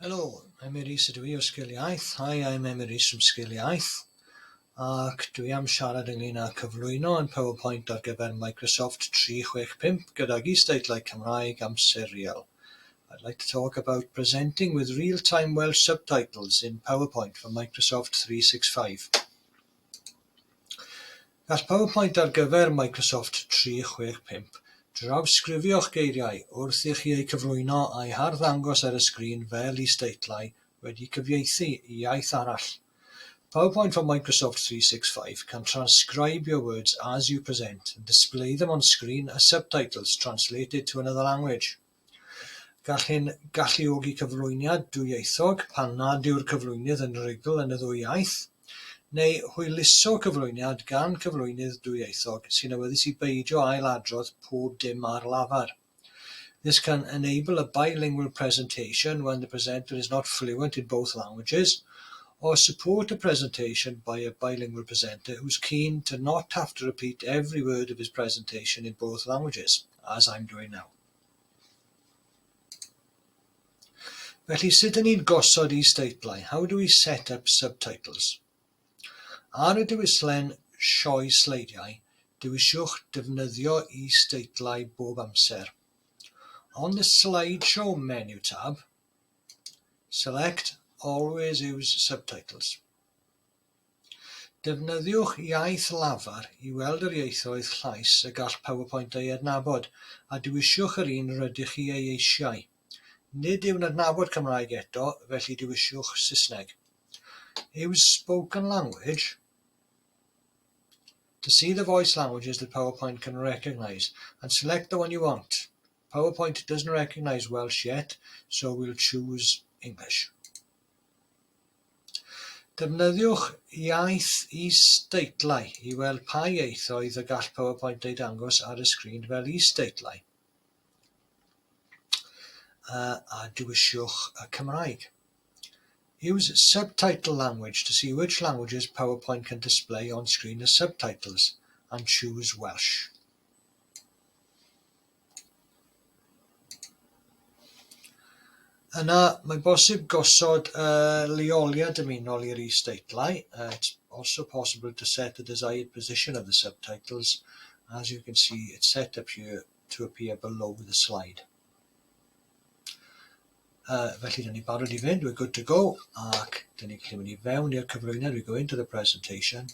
Helo, Emyr Rees ydw i o Sgil Iaith. Hi, I'm Emyr Rees from Sgil Iaith. Ac dwi am siarad ynglyn â cyflwyno yn PowerPoint ar gyfer Microsoft 365 gydag is-deitlau Cymraeg am serial. I'd like to talk about presenting with real-time Welsh subtitles in PowerPoint for Microsoft 365. Gall pawb faint ar gyfer Microsoft 365. Drawsgrifio'ch geiriau wrth i chi eu cyflwyno a'u harddangos ar y sgrin fel is-deitlau wedi cyfieithu i iaith arall. Pawb faint fo Microsoft 365 can transcribe your words as you present and display them on screen as subtitles translated to another language. Gall hyn galluogi cyflwyniad dwyieithog pan nad yw'r cyflwynydd yn rugl yn y ddwy iaith, neu hwyluso cyflwyniad gan gyflwynydd dwyieithog sy'n awyddus i beidio ail-adrodd pob dim ar lafar. This can enable a bilingual presentation when the presenter is not fluent in both languages, or support a presentation by a bilingual presenter who's keen to not have to repeat every word of his presentation in both languages, as I'm doing now. Felly sut ydyn ni'n gosod is-deitlau, how do we set up subtitles? Ar y diwylliant sioe sleidiau, dewisiwch defnyddio is-deitlau bob amser. On the slideshow menu tab, select always use subtitles. Defnyddiwch iaith lafar i weld yr ieithoedd llais y gall PowerPoint eu hadnabod, a dewisiwch yr un rydych chi ei eisiau. Nid yw'n adnabod Cymraeg eto, felly dewisiwch Saesneg. Use spoken language to see the voice languages that PowerPoint can recognise and select the one you want. PowerPoint doesn't recognise Welsh yet, so we'll choose English. Defnyddiwch iaith is-deitlau i weld pa ieithoedd y gall PowerPoint eu dangos ar y sgrin fel is-deitlau, a dewisiwch y Cymraeg. Use subtitle language to see which languages PowerPoint can display on screen as subtitles, and choose Welsh. Yna mae'n bosib gosod y lleoliad dymunol i'r is-deitlau, it's also possible to set the desired position of the subtitles, as you can see it's set up here to appear below the slide. Uh, felly, dyn ni barod i fynd, we're good to go, ac dyn ni'n gallu mynd i fewn i'r cyflwyniad, we go into the presentation,